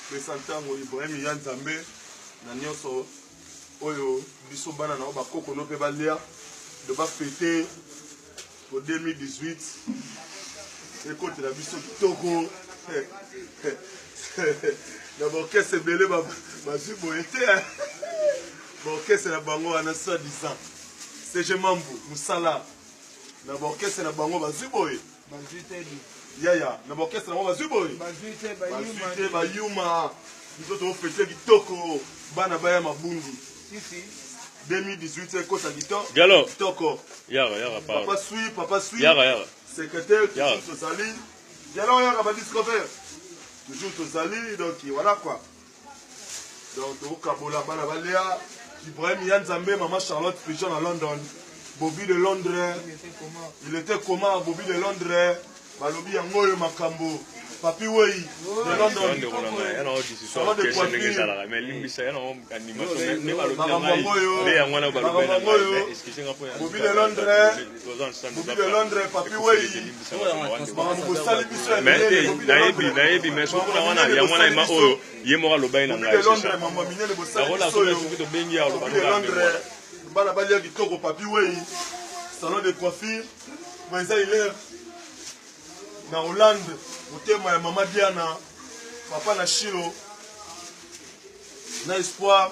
pesa ntango ibrahim ya nzambe na nyonso oyo biso bana na yo bakoko no mpe balia de bafete po 2018 ekotela biso kitoko na baorkestre ebele bazwi boye te baorkestre na bango wana soi disant sege mambu mosala na baorkestre na bango bazwi boye yaya na baorkestre yango bazwi boye bazwi te bayuma biso tofete kitoko bana baya mabundi 2018 ekota kitoko papa swi papa swi secrétaire toujours tozali dialo yaka badiscover toujours tozali donc voilà quoi donc tokokabola bana balea ibrahim ya nzambe mama charlotte pigeon na london bobi de londres il était comment bobi de londres balobi yango oyo makambo papi wei de londonsalon de poitremakambo yango oyo bobi de londres nayebi nayebi mais soki kuna wana yango wana ema oyo ye moko aloba ye na ngai nakola soki tobengi ya oloba bana balia kitoko papi wei salon de coiffure bo eza hilaire na hollande motema ya mama diana papa na shilo na espoir